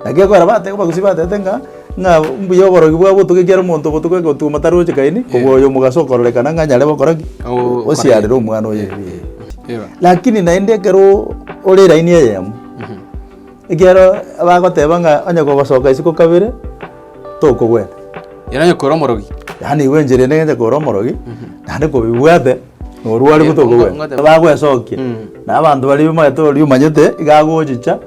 Naki ekogera bateba abagusii batebete ng'a ng'a mbuya oborogi bwa obotuko ekiagera omonto obotuko egotuma taroche kaini kobua oyo omogaso okororekana ng'a nyare gokora ki? Oo- Osiarere omwana oye. Eba. Lakini naende ekero ore laini eyemo ekiagera bagoteba ng'a onye gogosoka isiko kabere. tokogwena. Yaani onye kore omorogi. Yaani igo enchera ende ng'enche kore omorogi, naende kobibwate, norware buna tokogwena. Bagwesokia, na abanto baria omanyete oria omanyete, iga agochicha,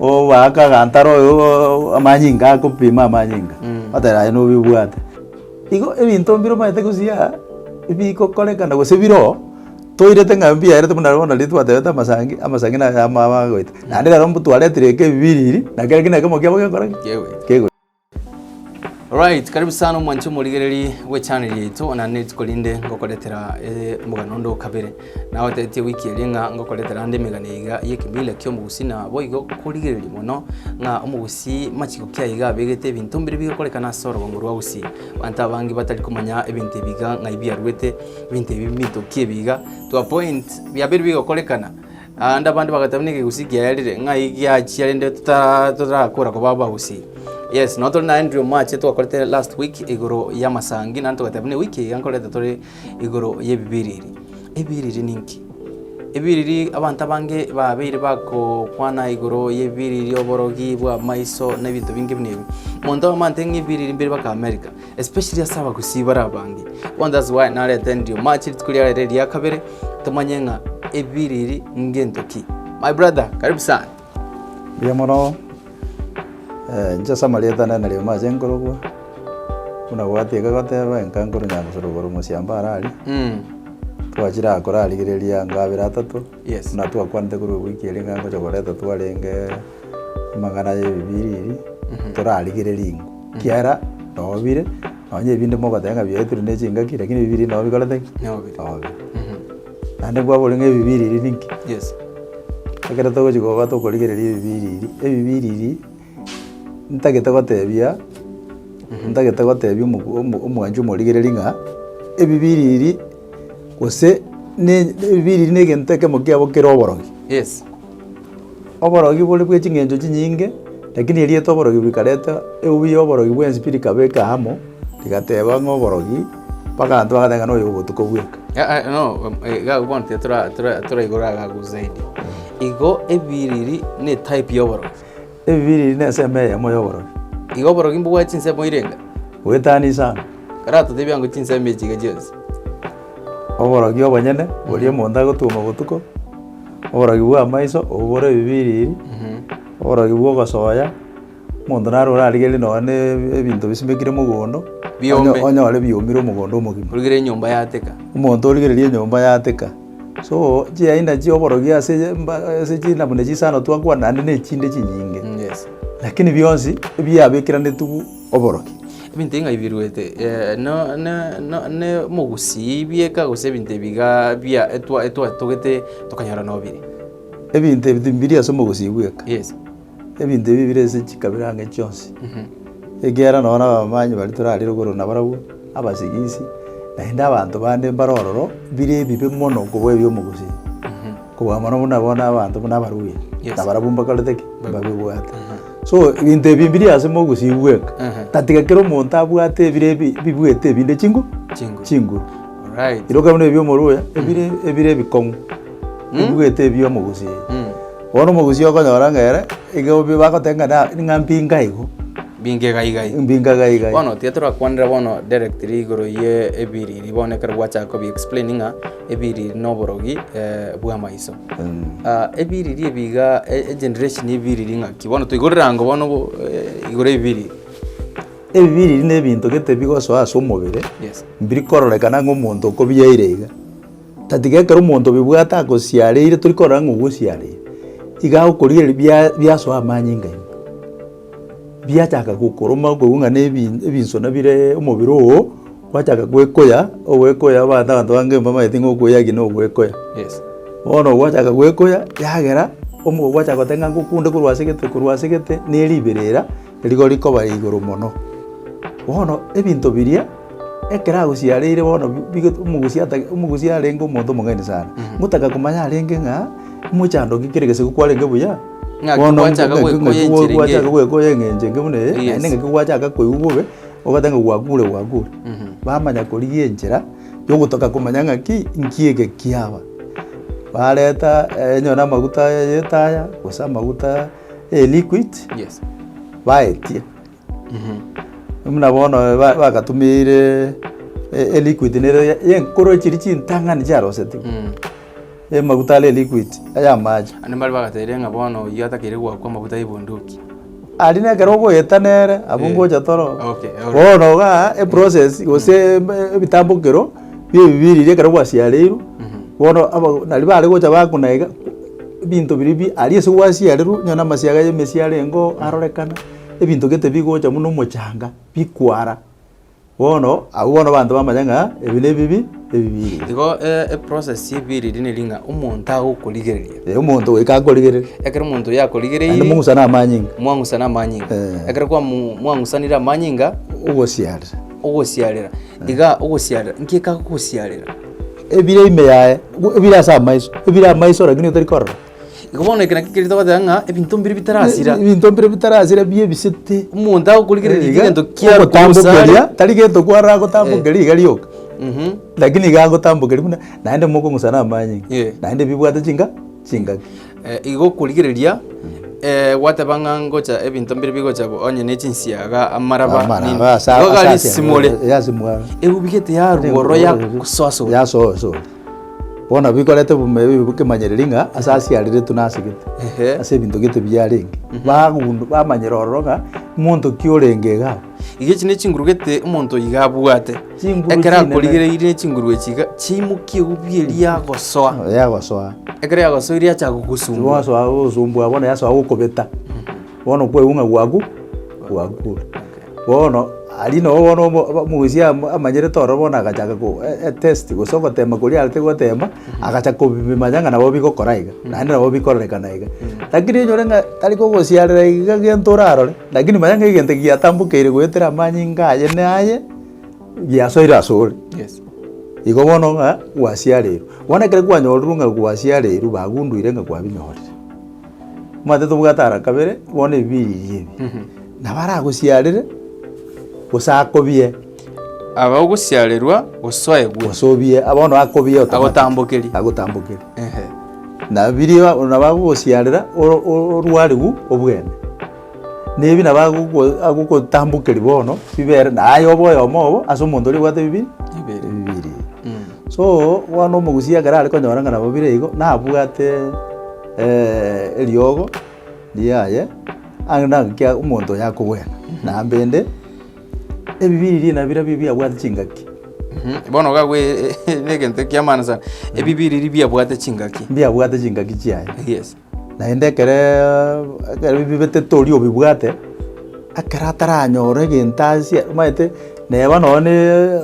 obaake agantara oyooo amanyinga akopima amanyinga, oteba aye nobibwate. Igo ebinto mbire omanyete gose aa, ebigokorekana gose bire oo. Toirete ng'a mbiaerete buna bono riria twatebete amasangi, amasangi naye amo aba agoeta. Naende rero mtwaretire eke ebibiriri, na kera ekero nekemo kiabo gekora ki? Kegoeta. Kegoeta. Alright, karibu sana omwanche omorigereri bwe channel yaito, onye naende rituko rinde ngokoretera eh, omogano onde o kabere. Nagotebitie wiki eria ng'a ngokoretera ande emegano eye iga y'ekemila ki'omogusii na boigo korigereria mono ng'a omogusii machiko ki aye iga abegete ebinto mbire bigokorekana ase orogongo rwa gusii. Abanto abange batari komanya ebinto ebi iga ng'ai biaruete, Ebinto ebi mbitokie biga to a point, biabeire bigokorekana, naende abande bagateba n'ekegusii kiaerire ng'ai giachia rende totara totarakora koba abagusii. Yes, nonye tore na Andrew omoache twakorete last week igoro y'amasangi naende togateba buna ewiki iga nkorete tore igoro y'ebibiriri. Ebibiriri ninki? Ebibiriri abanto abange babeire bakokwana igoro y'ebibiriri, oborogi bw'amaiso, na ebinto binge buna ebi. Omonto oyomo ante ng'a ebibiriri mbirobake America. especially ase abagusii bare abange bono that's why narete ndio match rituko riare rire ria kabere tomanye ng'a ebiri eri ngento ki my brother karibu sana Mbuya mono, eh, inche ase amarieta nane nario mache nkorokwa, buna gwatiga goteba enka nkoro nyamosoro igoro omosiambo ara aria, mm. twachire agokora arigereria ngabere atato, Yes. buna twakwanete korwa ewiki eria ng'a ngocha koreta twarenge. Amagana y'ebibiriri torarigererie ingo, ekiagera nobire, nonye ebinde mogoteba ng'a biaetire ne chingaki, lakini ebibiriri nabo bikorete ki? Nobire. Nobire. Naende kwabori ng'a ebibiriri ninki? Yes. Ekero togochi koba tokorigereria ebibiriri, ebibiriri ntagete gotebia, ntagete gotebia omo- omo- omwancho omorigereria ng'a ebibiriri gose ne- ne ebibiriri na egento ekemo kiabo kere oborogi. Yes. Oborogi bore bwe ching'encho chinyinge, lakini erieta oborogi rikareta eubi y'oborogi bw'ensibiri rikaba eke amo, rigateba ng'a oborogi, mpaka abanto bagateba ng'a noyo obotuko bweka. Ah, ah, no, um, eh, iga bono tiga tora- tora- toraigora agagu zaidi. Igo ebiriri ne type y'oborogi. Ebibiriri n'ensemo eyemo y'oborogi. Iga oborogi mbobwate chinsemo ire inga. Goetana isano. Kare atotebia ng'a chinsemo echi iga chionsi. Oborogi obonyene boria omonto agotuoma botuko, oborogi bw'amaiso obobore ebibiriri, oborogi bw'ogosoya, omonto naro orarigererie nonye na ebinto bisimekire mogondo, onyore biomire omogondo omogima. Origererie enyomba yateka. Omonto origererie enyomba yateka. So chiaenda chi'oborogia ase ase china buna chisano twakwana naende na echinde chinyinge, Yes. lakini bionsi biabekeranetiwu oborokia. Ebinto ing'aibiruete eh, no- no- no- ne mogusii bieka gose ebinto ebi iga bia etwa- etwatogete tokanyora nobiri. Ebinto ebi timbiri ase omogusii bweka. Yes. Ebinto ebi bire ase chikabira ang'e chionsi, ekiagera nonya nabamanyi baria torarire igoro nabarabwo, abasigisi, naende abanto bande mbare ororo, bire ebibe mono kobua ebi'omogochia, kobua mono buna bono abanto buna abaluya, Yes. nabarabwo mbakorete ki? Mbabibwate. So ebinto ebi mbire ase mogosii bweka, Aha. tatiga kera omonto abwate ebire ebi bibuete ebinde chingo Chinguru. chinguru. Alright. Iroka buna ebi'omoroya, ebire ebire ebikong'u, bibuete ebi'omogochia. Mm. Bono omogusii okonyora ng'a ere, iga obi bagoteba ng'a na ng'a mpinga igo, Mbinge iga iga iga. mpinga iga iga. Bono tiga torakwanera bono directly igoro ye ebiriri bono ekero gwachaka kobi explain ng'a ebiriri na oborogi eh, bw'amaiso. Mm. Ah, ebiriri ebi iga e- egeneration ya ebiriri ng'aki? Bono toigwe rirango bono bo eh, igoro ya ebiriri. Ebiriri na ebinto gete bigosoa ase omobere, Yes. mbiri kororekana ng'a omonto okobiyaire iga. Tatiga ekero omonto obibwate akosiareire, tori korora ng'a ogosiareire, iga agokorigereria bia- biasoa amanyinga ime, biachaka gokoroma okoigwa ng'a na ebi ebinsona bireee omobere oo, gwachaka gwekoya, ogwekoya abanto abanto bange mbamaete ng'a okoya eki na ogwekoya. Yes. Bono gwachaka gwekoya, yagera, omo gwachaka goteba ng'a ngokunde korwa asegete korwa asegete, ne riberera. Rigo rikoba igoro mono. Bono ebinto biria, ekero agosiareire bono bige omogusi atake omogusi arenge omonto omong'aini sana. Ngotaka komanya arenge ng'a, mochando ki kere gesegwe kwarenge buya? Ng'aki Bono gwachaka ng'aki- gwekoya ng'aki enchera gwachaka eng'encho. gwekoya eng'encho enge buna eye, Yes. naende ng'aki gwachaka koigwa bobe, ogoteba ng'a gwakure gwakure. Bamanya korigia enchera, yogotoka komanya ng'aki, nki eke kiaba. Bareta, eh, onye namaguta aya y'etaya, gose amaguta. eye liquid Yes. baetie buna bono ba- bagatumire e- e liquid nere ye- yenkoro chiri chintang'ani chiarosetiwe Mm. emaguta are liquid aya amache Ande mbare bagateire ng'a bono oyio atakeire goakwa amaguta ya ebunduki. ari nekero ogoeta nere abwo Eh. ngocha toro Okay, alright. bono iga eprocess gose eb- ebitambokero bi'ebibe ebiria ekero gwasiareirwe, bono abageni naria bare gocha bakonega ebinto biria bi aria ase gwasiarerwe, onye na amasiaga ya emesia arengeo arorekana, ebinto gete bigocha buna omochanga, bikwara, bono abwo bono abanto bamanya ng'a ebi na ebibi, ebibe ebibe. Igo eprocess ya ebibe riria neri ng'a omonto agokorigereria. Ee omonto goika akorigereria. Ekero omonto oyio akorigereirie. Naende mong'usane amanyinga. Mwang'usana amanyinga. Ekero kwamu mwang'usanire amanyinga. Ogosiarera. Ogosiarera. Iga ogosiarera nki'ka gosiarera. Ebire ime yaye, ebire ase amaiso, ebire amaiso lakini otari korora. Igo bono eke nakio keria togoteba ng'a ebinto mbire bitarasira. Ebinto mbire bitarasira ebi ebisete. Omonto agokorigereria Iga, egento kiaye korwa ase ogotambokeria, are. tari gento kwaragotambokeria iga rioka, lakini iga agotambokeria buna naende mokong'usa na amanyinga, Yee. naende bibwate chinka. chingaki. Eh, igokorigereria eh, gwateba ng'a ngocha ebinto mbire bigocha bo- onye ne chinsiaga amaraba Amara, nini. aba asa- Igo asa- gari asa- simore eh, ase mwaro. ebubigete yarugoro ya kusoasora yasoso bono bikorete bume- bi- bokemanyereri ng'a ase asiareretwe nasegete Ehe. ase ebinto gete biarenge bagundu bamanyera ororo ng'a monto ki orenge iga Iga echi nechinguru gete omonto oiga abwate, Chinguru ekero chinene. akorigereiri nechinguru echi iga chiaimokia egubi eria agosoa, Oyo yagosoa. ekero yagosoire yacha gogosumbua. Wasoa gosumbua bono yasoa gokobeta. Bono kwegwa ng'a gwaku gwakure. Bono aria nabo bono omo- omo- omogusia am- amanyerete ororo bono agachaka ko e- e test gose ogotema koria arete gotema, agacha kobimanya ng'a nabo bigokora iga, naende nabo bikororekana iga. Lakini enyore ng'a tari kogosiarera iga gento orarore. Lakini manya ng'a egento giatambokeire goetera amanyinga aye naye giasoire asore. Yes. Igo bono ng'a gwasiareirwe. Bono ekero kwanyorurwe ng'a gwasiareirwe bagunduire ng'a kwabinyorire. Omanyete tobwate ara kabere bono ebibiria ebi. Nabo aragosiarere gose akobie. Aba ogosiarerwa gosoegwe. Osobie, bono akobie automatic. Agotambokerie. Agotambokerie. Ehe. Na biria ba- nabo agogosiarera oro- o- orwarigu obwene. Nebi nabo agogo- agogotambokeria bono bibere naye obe oyomo obo ase omonto oria obwate bibi Ebere. bibiri. So bono omogusii ekero are konyora ng'a nabo bire igo, nabwate eriogo riaye ang'e naki omonto oyo akogwena. Nambende. Ebibiriri nabirobio biabwate chingaki? Mhm, Bono gakwa negento ekiamana sana. Ebibiriri biabwate chingaki. Mbiabwate chingaki chiaye. Yes. Naende ekere ekero bibete tori obibwate, ekero ataranyora egento ase omanyete neba nonye ne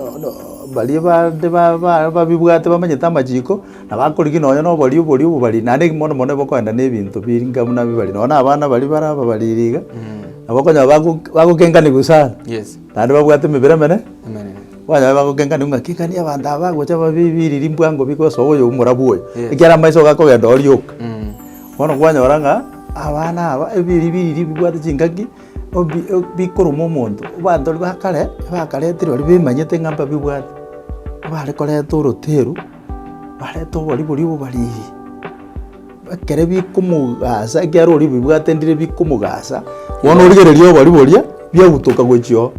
baria bande ba- ba- babibwate bamanyete amachiko. Na bakorigia nonya noboria oboria obobari, naende ekero mono mono bokoenda na ebinto biringa buna bibari, nonya na abana baria bare ababariri iga, nabo okonyora bago bagokenganiwa sana, Yes. naende babwate emebere emene, Emenene. kwanyora bagokenganiwa ng'a kika ni abanto aba bagocha babe biriri mbwa ngo bigosoa oyo omorabu oyo, Yes. ekiagera amaiso iga akogenda oo rioka. Mm. Bono kwanyora ng'a abana aba ebiri biriri bibwate chingaki obi o bikoruma omonto, abanto baria ba kare, abakaretirwe baria bemanyete ng'a mbabibwate, bare koreta oroteru. Barete oboribori obobariri, ekere bikomogaasa, ekiagera oribibwate ndire bikomogaasa. Bono origereria oboribori, biagutoka gochia oo.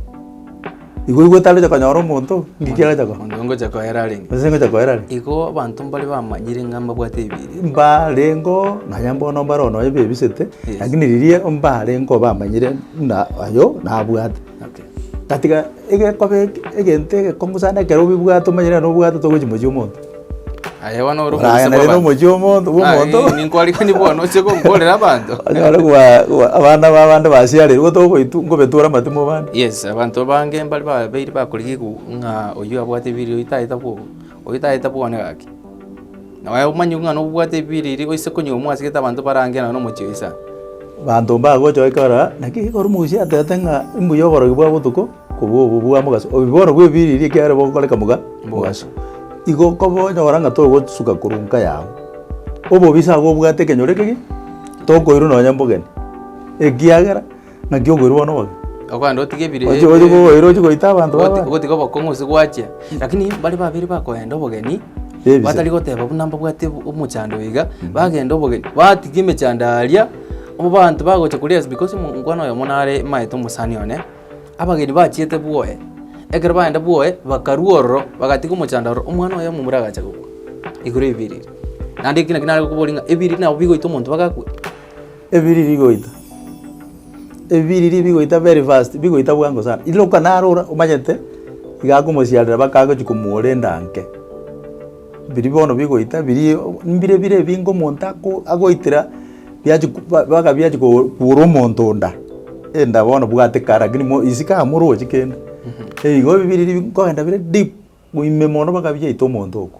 Igo igo otagocha konyora omonto, ng'aki agocha korora. Omonto ngocha koera arenge. Gose ngocha koera arenge. Igo abanto mbare bamanyire ng'a mbabwate ebiiri. Mbarengeo, nonya bono mbare ono ebebisete, lakini riria mbarengeo bamanyire buna oyo nabwate. Na tiga egekobe eke egento egekongu sana ekero obibwate omanye nere nobwate togochia mochie omonto. Aye bono ore Oragenda omoise rero bw'abanto. omochie omonto bwa omonto. Naki ninkoarigani bono oche gonkorera abanto. Onyore koa koa abana ba abande basiareirwe togoitwa ngobetora amate mobande. Yes, abanto abange mbare babeire bakorigigwa ng'a oyio abwate ebiiri oyio tagete bwogo. Oitaete bwone gaki, na bae omonyigwe ng'a nobwate ebiiri eria oise konyigwa mwasigete abanto bare ang'e na nomochie oise aa. Abanto mbagocha ekero aa, naki ekero Musa atebete ng'a imbuya oborogi bwa botuko kobua obo bwa mogaso, obibono bw'ebiiri eria ekiagera bogokoreka moga mogaso. Igo kobonyora ng'a togosuka korwa nka yao obobisa agwo obwate ekenyoro ekegima, tokoirwa nonya mbogeni, ekiagera. Naki okoirwa bono obobe. Okogenda otige ebire- Ochi- ochi koboira ochi goita abanto baba. Ogoti- ogotiga obokong'u gose gwachia lakini bare babere bakoenda obogeni Ebise. batari goteba buna mbabwate obo- omochando oyo iga bagenda obogeni batiga emechando aria abanto bagocha koria ase because omo- omokwana oyomo nare maete omosani one abageni bachiete bwoye ekero bagenda bwoye bakarwa ororo bagatiga omochando ororo omwana oye omomura agacha gokwa igoro ya ebiriri naende ekio naki nare gokobori ng'a ebiriri nabo bigoita omonto mpaka akwe Ebiriri goita, ebiriri bigoita very fast, bigoita bwango sana. Ira okanarora omanyete iga akomosiarera baka agochia komuora endanke. Biri bono bigoita biri mbire bire ebinge omonto ako agoitera biachi ku ba baka biachi ko kuora omonto onda, enda bono bwate kar lakini mo isi kara morochi kende. Igo ebiriri nkoenda bire deep, ime mono baka biaita omonto oko.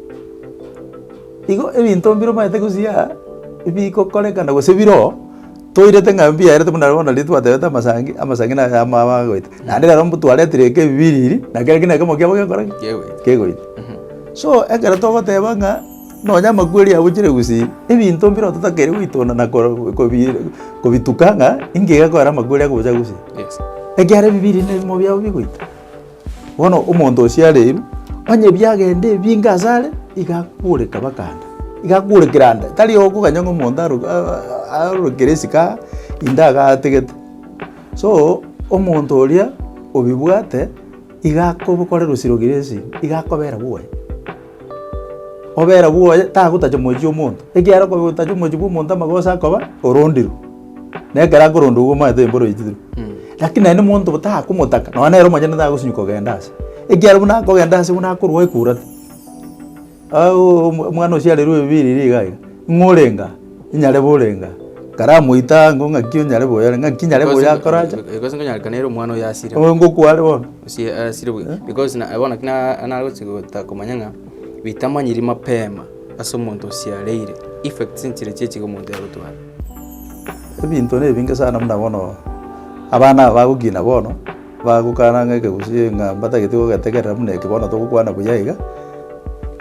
Igo ebinto mbiromanyete gosiaa ebigokorekana gose biro oo, toirete ng'a mbiaerete buna bono riria twatebete amasangi, amasangi naro amo aba agoita. Naende rero mbotwaretire eke bibiriri, na kere gena ekemogo kiabo gekora ki? Kegoita. So ekero togoteba ng'a nonye amakweri abochire gusii, ebinto mbire oo totakeire goitunda na koro kobi kobituka ng'a inki gekorera amakweri agocha gusii. Yes. Ekiagera ebibiriri nebimo biabo bigoita. Bono omonto oo siareiru, onye biagenda ebinge ase are, iga akoreka baka ande, iga akorekera ande. Tari okoganya ng'a omonto aro aa arorekere esiko aa, inde iga ategete. So, omonto oria obibwate, iga akobokorera osiroki na esegi, iga akobera bobe. Obera bwoye tagotacha moechi omonto, ekiagera okotacha omoechi bw'omonto amagoso akoba orondirwe, na ekero akorondwa igo omanyete mboro oichitirwe. Lakini aye na omonto bo takomotaka, nonya nere omonyene tagosinywa kogenda ase, ekiagera buna akogenda ase buna akorwa oekurate. Aaaaa omwana osia arerwe ebibiiri iga iga, ng'o orenge aa? Inyare borenga, karamoita ango ng'aki onyare boyare, ng'aki nyare Because- boyakora acha. because nkonyarekana ere omwana oyo asire Oyo ngokware bono. Ase- asire bwe- because na- bono naki na- nagochi gotaka komanya ng'a bitamanyiri mapema ase omonto osiareire effects nchire chie chiga omonto yagotwara Ebinto nebinge sana buna bono, abana aba bagokina bono. Bagokana ng'a ekegusii ng'a mbatagete gogetegerera buna eke bono togokwana buya iga,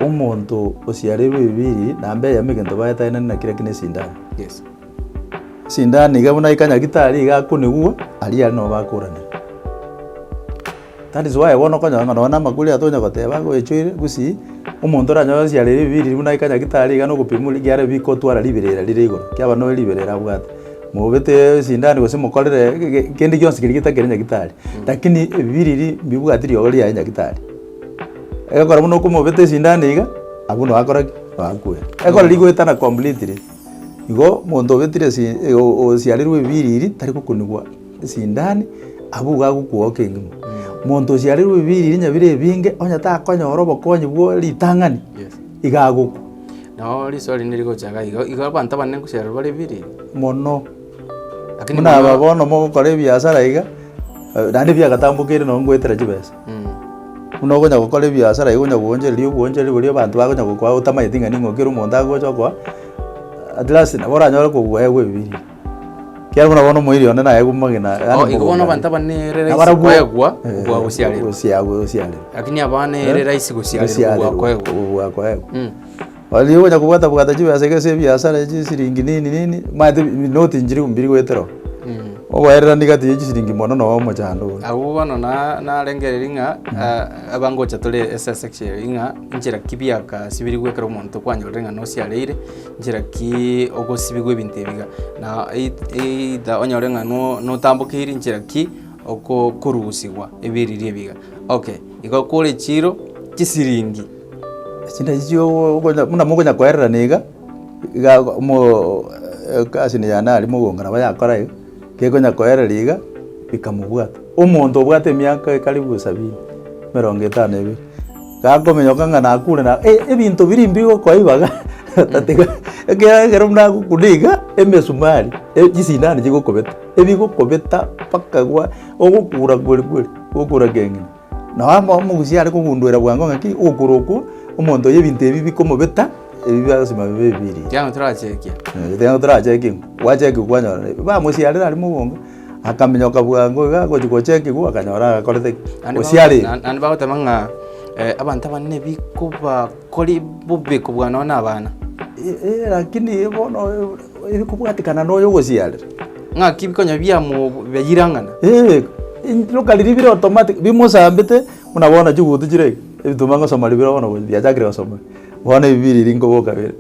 omonto osiareirwe ebibiiri na mbeya yamo egento baetagenete na kera ki na esindano. Yes. Esindano iga buna eka nyagitari iga akonigwa, aria aria nabo bakoranera. That is why bono okonyora ng'a nonye na amakuri atonya goteba ng'a oechoire gusii, omonto oranyore osiareirwe ebibiiri buna eka nyagitari iga na ogopima oria ekiagera bikotwara riberera rire igoro, kiaba noe riberera abwate. Mobete esindani gose mokorere ge- ge- kende gionsi keria getakere nyagetari, lakini ebibiria eria mbibwati riogo riaye nyagetari. Egekora buna okomobeta esindani iga, abwo noo akora ki? Noo akwe. Ekero rigoetana completely, igo monto obetire esi- e- o- o- osiarerwe ebibiria eria tari gokunigwa esindani, abwo igo agokwoa oke engima. Monto osiarerwe ebibiria eria nyabire ebinge, onye takonyora obokonyi bwa ritang'ani, iga agokwa. Nao risoa rinde rigocha iga igo, igo abanto abanene gochirerwa bare birie. mono, Lakini buna aba mono- bono mogokora ebiasara iga, eh, naende biagatambokeire nonye ngoetera chibesa. Mm. Buna okonya gokora ebiasara iga onya gwoonchereria obwoonchereri boria abanto bagonya gokoa otamaeti ng'a ning'o ekero omonto agocha okoa, at last nabo oranyore kobugae bwa ebibiria. Kiagera buna bono omoerio one naye bw'amagena gane Oo, igo bono abanto aba nere rahisi Nabarabwo- koegwa Eh, obwa gosiarerwa. gosiagwa- gosiarerwa. Lakini abana ere rahisi gosiarerwa obwa Gosiarerwa, koegwa. obwa koegwa. Mm. Oria ogocha kobwata bwata chibesa iga ase ebiasara echi siringi nini nini maete noti nchiri mbiri goetera oo. Mm. Ogoererania gati ya chisiringi mono na omochando oo. Abwo bono na- narengereria ng'a ah, abangocha tore ase esection eye ng'a inchera ki biaka ase biri gwekera omonto kwanyorire ng'a nosiareire Nchera ki ogosibigwa ebinto ebi iga? Na either onyore ng'a notambokeiri nchera ki okorusigwa ebiriri ebi iga. Okay, igo kore echiro chisiringi. Echio nachio okonya buna mokonya koererana iga, iga mo egasi eye yane aria mogoka nabo yakora iga, gekonya koerera iga, bikamobwata. Omonto obwate emiaka karibu sabini, emerongo etano na ebere. Gakominyoka ng'a nakure na e- ebinto biria imbe igo koiba iga, otatiga ekiagera ekero buna gokuna iga, emesumari, e- chisindani chigokobeta, ebigokobeta mpaka gwa ogokura kweri kweri, ogokura keng'ina. Nao amo omogusia are kogundera bwango ng'aki, ogokura okwo, omonto oyo ebinto ebi bikomobeta, ebi biagasima bibe ebiiri. Ekiagera torachekia. Ekiagera torachekia, gwachekigwa kwanyora bamosiarera are mobonge. akaminyoka bwango iga agochia gocha ekegwa akanyora agakorete ki? Naende Gose bago- arenge. na- naende bagoteba ng'a eh, abanto abanene bikobakore bobe kobua nonya na abana Eh, eh, lakini bono eh, ere kobwatekana na oyo ogosiarire. ng'aki bikonya biamobeire ang'ana Eh, iroka riria bire automatic bimosambete buna bono chigutu chire ebi tobangosoma ribere bono biachakire gosoma. Bono ebi biri riko boka bire.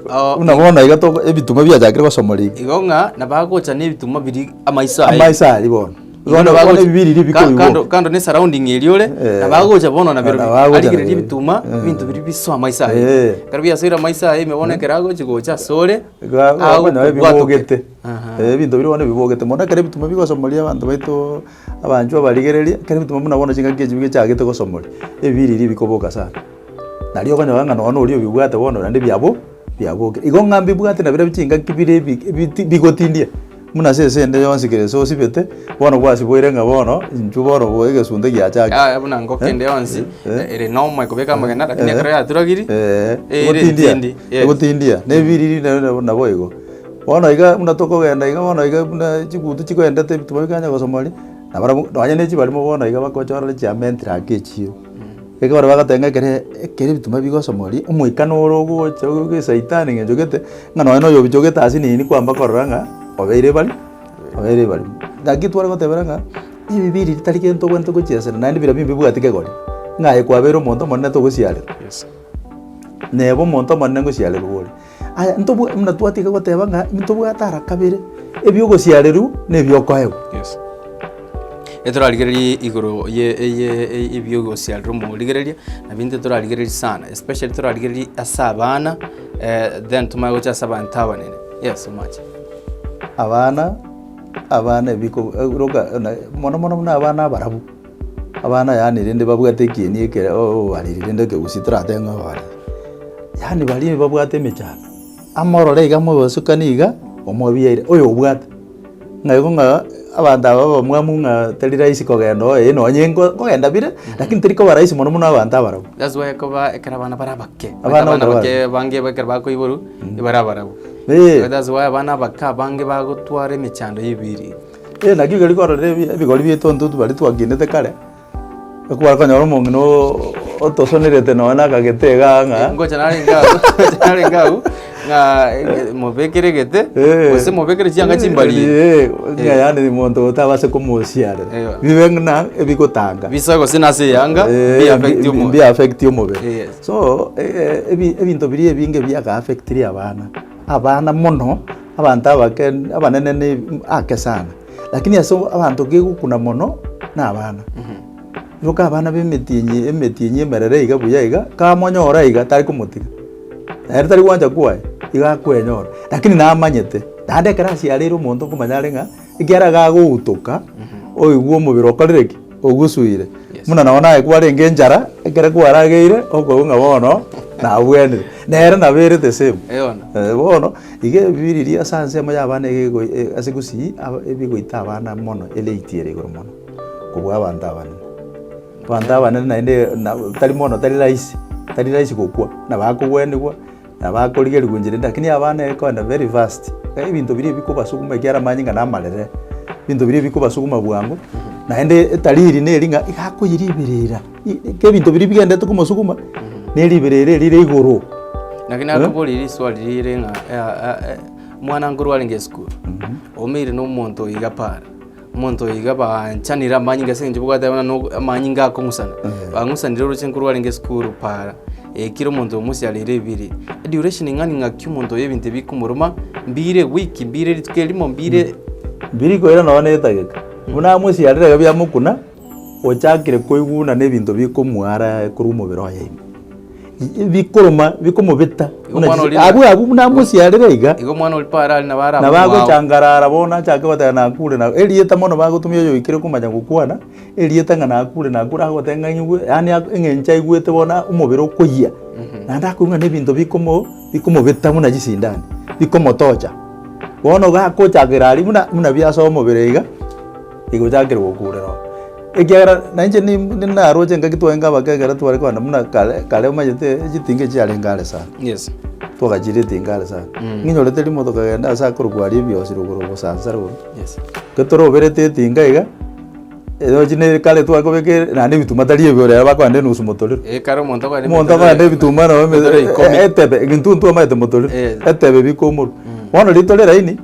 Oo, Buna bono iga toko ebitunwa biachakire gosomwa riko. igo ng'a nabagocha nebitumwa biri amaiso aye. Amaiso aria bono. Igo Bono bono nabagocha- ebi biri riko ka- kando- biboka. kando ne surrounding eria ore, Eh. nabagocha bono nabiro bi- Nabagocha arigereria nabiro. ebitumwa, Eh. ebinto biria bisoe amaiso aye. Eh. Ekero biasoire amaiso aye, ime bono ekero agochi gocha ase ore, Iga- iga- bono agokobwatoke. bibogete. Aha. Eh, ebinto biria bono bibogete mono ekero ebitumwa bigosomwa riria abanto baito Abanchwa barigereria, ekero bituma buna bono chingaki echio bichagete gosomoria, ebibiriri bikoboka sana. Nario okonyora ng'a nonya oria obibwate bono naende biabo biaboke. Igo ng'a mbibwate na bire chingaki bire ebi ebiti bigotindia buna ase esende yonsi kere gese osibete, bono gwasiboire ng'a bono intwe bono bo egesunte giachakire. Yaya buna ngoko ende yonsi Eh. ere nomo ekobeka amagena, lakini ekero yaturagiri, eira ebitindi. Yes. Egotindia, na ebibiriri naende nabo igo. Bono iga buna tokogenda iga bono iga buna chigutu chikoendete ebituma bikaganya gosomwa aria, nabarabwo nonye ne chibarimo bono iga bagochora ne chiamentere ake echio. Ekero bagoteeba ng'a ekere ekere ebituma bigosomwa aria, omoika noro ogocha obe esaitani ng'a enchogete, ng'a nonye na oyo obichogete ase nini kwamba korora ng'a obeire bari obeire barimo. Naki tware gotebera ng'a ebibe ebi tari gento ogwenerete gochiesera naende bira bire mbibwati kegori, ng'a aye kwabeire omonto omonene togosiarerwa, neba omonto omonene ngosiarerwa ore. Aya ntobwa buna twatiga goteba ng'a ntobwate ara kabere, ebi'ogosiarerwa na ebiokoegwa. Yes. Etorarigererie igoro ye- eye- eye- ebi'ogosiarerwa omorigereria, nabinto ebio torarigererie sana, especially torarigererie ase abana, then tomanye gocha ase abanto abanene. Yes, omache. Abana, abana ebiko- e- roka, na mono mono buna abana abarabu. Abana yaani rende babwate ekieni ekere obariri rende ekegusii toratebe ng'a obariri. Yaani baria babwate emechando, amorore iga amosesukanie iga omobiere oyo obwate. Ng'a igo ng'a abanto aba abamwamu ng'a tari rahisi kogenda oye eh nonye nko nkogenda bire lakini teri koba rahisi mono mono abanto abarabwo. That's why ekoba ekero abana bare abake Abana abana abake abake. abange iga ekero bakoiborwa, ebare abarabwo. Eeh. That's why abana abake abange bagotwara emechando ya ebiiri. Ee, naki rirorio kororire ebi- ebigori bieto ntotu baria twakinete kare, ekware konyora omong'ina oo- otosonerete nonya na akagete iga ng'a. Ngocha narenge agwo, ngocha narenge agwo, ng'a mobekere egete, Ee. gose mobekere chianga chimbari. Ee, ng'a yaani monto otabase komosiarera. Eyo. Bibe ng'ina ebigotanga. Bisa gose nase eyanga, Ee, bi affect bi- omo- bi affect omobere. Yes. So, e- e- ebi- ebinto biria ebinge biaka affectirie abana. Abana mono, Abanto abake abanene ne ake sana, lakini ase abanto kegokuna mono nabana. Iboka abana b'emetienyi emetienyi emerere iga buya iga, kamonyora iga tari komotiga. Ere tari gwancha kwaya, iga akwenyora, lakini namanyete, naende ekero asio areire omonto okomanya are ng'a. Ekiagera iga agogutoka, oigwe omobere okorire ki? Ogusuire. Yes. Buna nao naye kwarenge enchara, ekero kwarageire, okoigwa ng'a bono nabwenire. Nere nabo ere the same. Eona. Eh, bono iga ebibiriri ase anse amo y'abana iga ego- e- ase gusii aba- ebigoita abana mono elate ere igoro mono kobua abanto abanene. Abanto abanene naende na tari bono tari rahisi, tari rahisi gokwa, nabo akogwenigwa. Nabakorigerigwa enchera ende, lakini yabaa nere koenda very fast. Iga ebinto biria ebikobasuguma ekiagera amanyinga na amarere, ebinto biria ebikobasuguma bwango, naende etariri neri ng'a iga akoyia riberera. I- i- Ke ebinto biria bigendete komosuguma, ne riberera eri rire igoro. Naki nakoboria riswali rire ng'a, eh, ah, eh, omwana nkorwa arenge esukuru, omeire na omonto iga para, Omonto oyo iga banchanire amanyinga ase eng'encho bwate abana no amanyinga akong'usana. Bang'usanire orosio nkoro rwarenge esukuru para. Eh, kera omonto omosiareire ebiiri. Duration ing'ani ng'aki omonto oyo ebinto ebi bikomoruma, mbiire week, mbiire rituko erimo, mbiire Mbiri koira nonya na etageka. Buna amosiarire iga biamokuna. Ochakire koiguna nebinto bikomua are korwa omobere oye ime, bikoruma, bikomobeta Igo buna omwana chise- oria- abwo abwo buna amosiarire iga, Igo omwana oripo are aria nabo ara na abwo mwao. bagochangarara bono achake goteba nakure na erieta mono bagotumia oyoikire komanya gokwana erieta ng'a nakure nakure agoteba ng'a aigwe yaani a- eng'encho aigwete bono omobere okoyia naende akoigwa na ebinto bikomo bikomobeta buna chisindani bikomotocha bono gakochakera aria buna buna biasoa omobere iga. Igochakerwa gokuurerwa, ekiagera nainche ni- naroche engaki twaye nga abake ekero tware kogenda buna kare, kare omanyete chitinga echi chiarenge are sana, Yes. twagachiria etinga are sana. Mm. Ninyorete rimo tokagenda ase akorokwa aria ebiosi rogoro obosansa rogoro, Yes. ekero toroberete etinga iga, erochi na ere kare tware kobeka ere naende ebituma tari ebi ore ere bakogenda enusu motorero. Eeh, kare omonto akogenda Omonto akogenda ebituma nabo eme- motorero ikomi. e- etebe, egentuntu omanyete motorero, Yes. etebe bika omorwe. Bono ritorero eraini.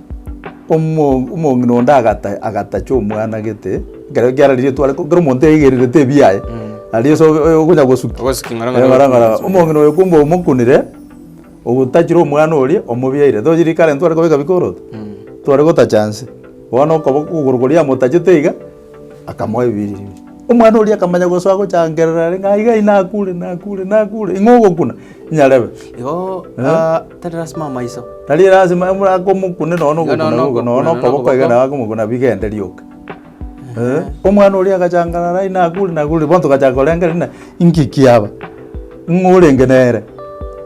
Omong'ina onde agatacha omwana gete, ekero kiarenge rietwa ariko kera omonto yaigererete ebiaye, aria ase ogonya gosukia ng'orong'oro. Omong'ina oyo kumbe omokunire, otachire omwana oria omobiaire. Tochi rikara intwe tware kobeka bikoroto, tware gotacha nse. Bono okoboko okogoro koria yamotachete iga. Akamoa ebiiri. Omwana oria akamanya gosoa agochangerera are ng'a aiga ai nakure, nakure, nakure, ing'o ogokuna? Inyarebe. Igo ah, tari lasima amaiso. Tari lasima buna akomokune nonya Iga nonya ogokuna nonya okokuna, okoboko iga nabo akomokuna bigende rioka. Eh, omwana oria agachangarara ai nakure, nakure, bono togachaka korenga rende na ingiki aba, ng'o orenge nere?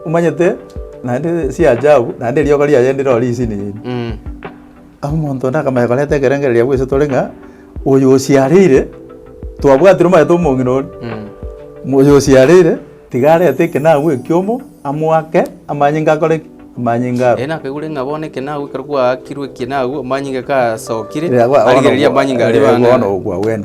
Omanyete naende si ajabu, naende rioka riaye ndire oo risinini. Mm. Omonto onde akamanya korenta ekerengererio gwise tore ng'a oyo osiareire, twabwatire omanyete omong'ina oria, oyo osiareire tiga arete ekenagu ekiomo amoake amanyinga akore ki? Amanyinga aro. Erio nakaigure ng'a bono ekenagu ekero gwaakirwe ekenagu, amanyinga gasokire, Riria gwa- bono arigereria amanyinga aria ogwa- eh, bono bang'aini. ogwa gwene.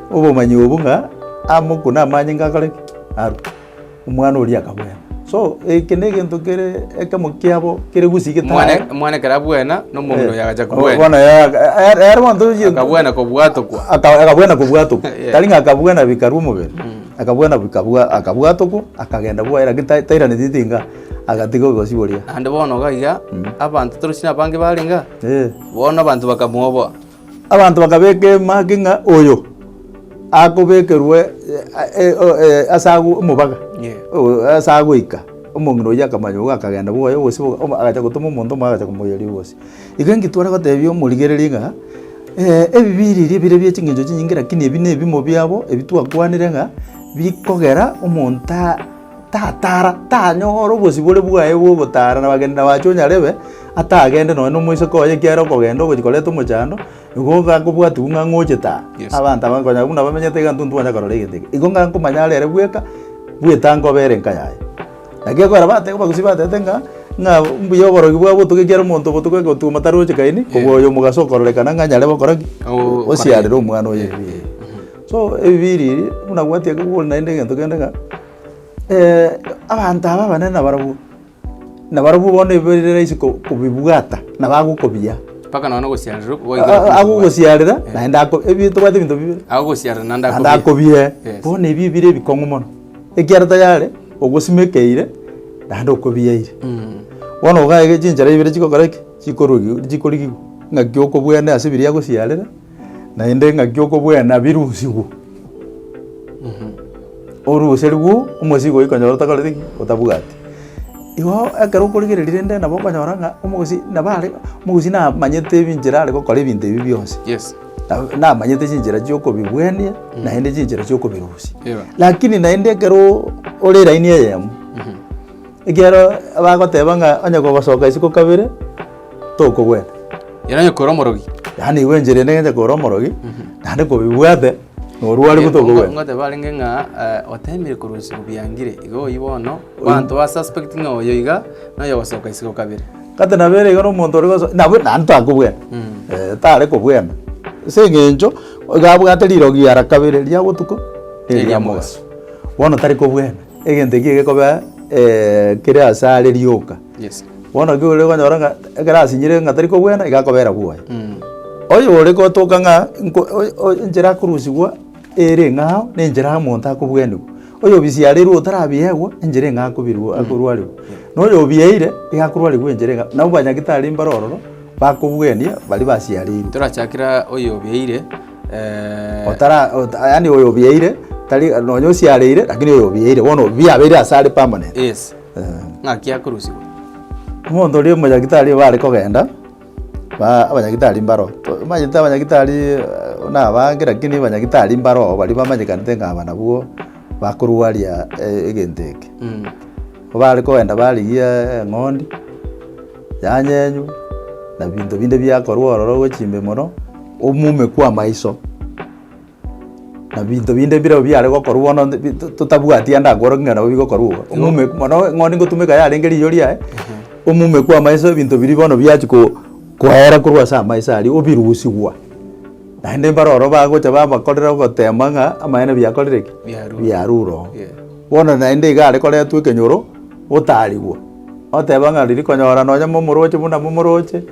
Obomanyi obo ng'a amo okwo namanye ng'a akore ki? Arwe. Omwana oria akabwena. So, eke negento kere ekemo kiabo kere gusii getae. Omwana omwana ekero abwena, na omong'ina oyo agacha kobwena. Bono yaya- e- e- ere bono tochi- Akabwena kobwatokwa. Aka- akabwena kobwatokwa. Yeah. Tari ng'a akabwena bikarwa omobere, akabwena bikabwa akabwatokwa, akagenda bwoye lakini tai- tairaneti ati ng'a agatiga obobosi boria. Naende bono iga iga, abanto torochia nabange barenge, Eh. bono abanto bakamoboa. Abanto bakabeka emage ng'a oyo akobekerwe ase agwo omobaga, ase agoika. Omong'ina oyio akamanya igo akagenda bwoye gose agacha gotoma omonto omoya agacha komoiyeria ribose. Igo ekintware gotebia omorigereria ng'a ebibe ebi erio bire bie ching'encho chinyinge lakini ebi nebimo biabo ebi twakwanire ng'a bikogera omonto tatara, tanyore obosibore bwaye bw'ogotara nabageni, na bache onyarebe atagende nonye nomoiseke oye ekiagera okogenda ogochia koreta omochando, nigo ogakobwatigwa ng'a ng'oche taa. Yes. Abanto aba konya buna bamenyete iga ntonto twanya korora egento eke. Igo ng'a nkomanya arere bweka, bweta nkoba ere enka yaye. Naki ekogera bateba abagusii batebete ng'a ng'a mbuya oborogi bwa botuko ekiagera omonto obotuko egotuoma taroche kaini, kobua oyo omogaso okororekana ng'a nyarebe okora ki? Osiarere omwana oye. So ebibiiri ebi, buna gwatia ekero gokora naende egento kende ng'a abanto aba abanene nabarabwo, nabarabwo bono ebibe bire rahisi ko- kobibwata na bagokobiaa. Mpaka nonya na ogosiarerwa oko goika Aa- aa- agogosiarera naende ako ebi tobwate ebinto bibere. Agogosiarera naende Naende akobie. akobie, Yes. bono ebi ebire ebikong'u mono, ekiagera tayari ogosimekeire naende okobieire. Bono iga iga chinchera ibere chigokora ki? Chikorugi chikorigigwa, ng'aki okobwene ase ebiria agosiarera. Naende engaki y'okobwena birusigwe, oruserigwe omosii goika onyore otakoreti ki? Otabwati. Igo ekero okorigereria rende nabo okonyora ng'a omogosii nabo are omogosii namanyete ebinchera are gokora ebinto ebi bionsi. Yes. Nabo namanyete chinchera chiokobibwenia naende chinchera chiokobirusia. Lakini naende ekeroo ore line eyemo. Ekiagera bagoteba ng'a onye gogosoka isiko kabere, tokogwena. Yaani onye kore omorogi. Yaani igo enchera ende ng'enche kore omorogi, naende kobibwate, norware buna tokogwena. Ngoteba arenge ng'a eh, otemire korwa isiko biangire, igo oyio bono, abanto ba suspect ng'a oyo iga, na oyo ogosoka isiko kabere. Kata nabo ere iga na omonto ore goso nabo naende takobwena, eh, tare kobwena. Ase eng'encho, iga abwate rirogi ara kabere, ria botuko, na eria mogaso. Bono tari kobwena. egento ekio gekobea kere ase are rioka. Yes. Bono ekero ore konyora ng'a ekero asinyire ng'a tari kobwena iga akobera bwoye. Oyo ore gotoka ng'a nko oyo oyo enchera akorusigwa ere eng'ao na enchera omonto akobwenigwa. Oyo obisiareirwe otarabiewa enchera eng'ao akobirwa akorwarigwa. Na oyo obieire iga akorwarigwa enchera eng'ao. Nabo banyagitari mbare ororo bakobwenia baria basiareirwe. Torachakera oyo obieire. Eh, otara ota- yani oyo obieire tari nonya osiareire lakini oyo obieire bono biabeire ase are permanent yes Eh, ng'aki akorusigwa omonto oria omonyagitari bare kogenda ba- abanyagitari mbaro To- omanyete abanyagitari eh, buna abange lakini abanyagitari mbaro baria bamanyekanete ng'a aba nabwo bakorwaria eh, egento eke Mm. ko bare kogenda barigia eng'ondi Yanyenywe, na binto binde biakorwa ororo gwe chimbimoro, omume kw'amaiso, na binto binde birobio biare gokorwa bono nti bi- to- totabwati ande akworokia ng'a nabo bigokorwa iga. Omume mono ng'o nigo otumeka yarenge riiyo riaye, omume kw'amaiso ebinto biria bono biachia ko koera korwa ase amaiso aria obirusigwa, naende mbare ororo bagocha babakorera ogotema ng'a amaene biakorire ki? Biarure oo. Biarure oo. Bono naende iga are koretwa ekenyoro, otarigwa. oteba ng'a riria konyora nonye momoroche buna momoroche,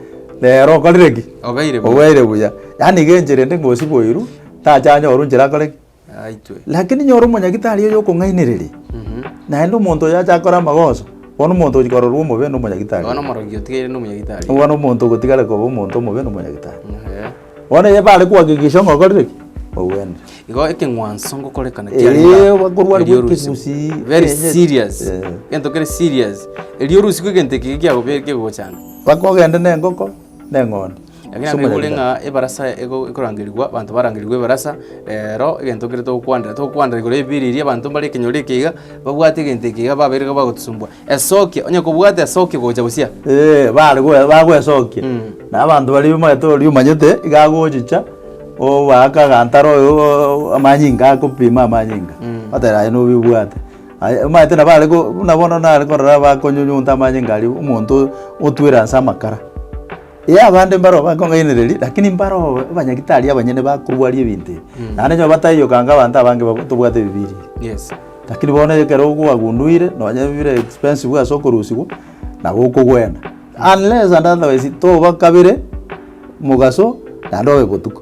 rero okorire ki? Obeire buya. Obeire buya. Yaani iga enchera ende ngosi boirwe, tacha anyorwe nchera akore ki? Aitwe. Lakini nyora omonyagitari oyo okong'ainereria, naende omonto oyo acha akore amagoso, bono omonto ochia kororwa omobe nomonyagitari. Bono omorogi otigaire nomonyagitari. Bono omonto ogotigare koba omonto omobe nomonyagitari. Eeh. Bono eye bare kohakikisha ng'a okorire ki? Ogwenerete. Igo ekeng'wanso ngokorekana Eeh, kiarenge bakorwa erio arigwe orisigu. ekegusii, Very ekenyeti. serious. Eh. Egento kere serious. Erio orisigu egento eke kiagobe- kegogochanga. Mpaka ogende na engoko, na eng'ondi. Lakini Ase naende omoyega. ng'a ebarasa ego ekorangerigwa, abanto barangerigwe ebarasa, rero egento kere togokwanera, togokwanera igoro y'ebiiri eria, abanto mbare ekenyoro eke iga, babwate egento eke iga, babeire iga bagotosumbua. Esokia, onye kobwata esokia gocha bosio. Ee, bare goe- bagwesokia. Na abanto baria omanyete oria omanyete, iga agochicha, obaake agantara oyo o- o- amanyinga agakopima amanyinga. Oteba aye nobibwate. Aye omanyete nabo are ko- buna bono nare korora bakonyunyunta amanyinga aria omonto otwire ase amakara. Ee, abande mbaro bakong'ainereria, lakini mbaro abanyagitari abanyene bakorwa aria ebinto ebi. Naende onye bataiyokanga abanto abange babo tobwate ebibiria ebi. Yes. Lakini bono ekero okoagunduire, nonye bire expensive ase okorusigwa, nabo okogwena. Unless and otherwise toba kabere mogaso naende obe botuko.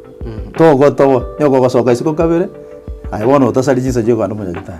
Togotoba, onye okogosoka isiko kabere, aye bono otasari chinsa chio okande omonyagitari.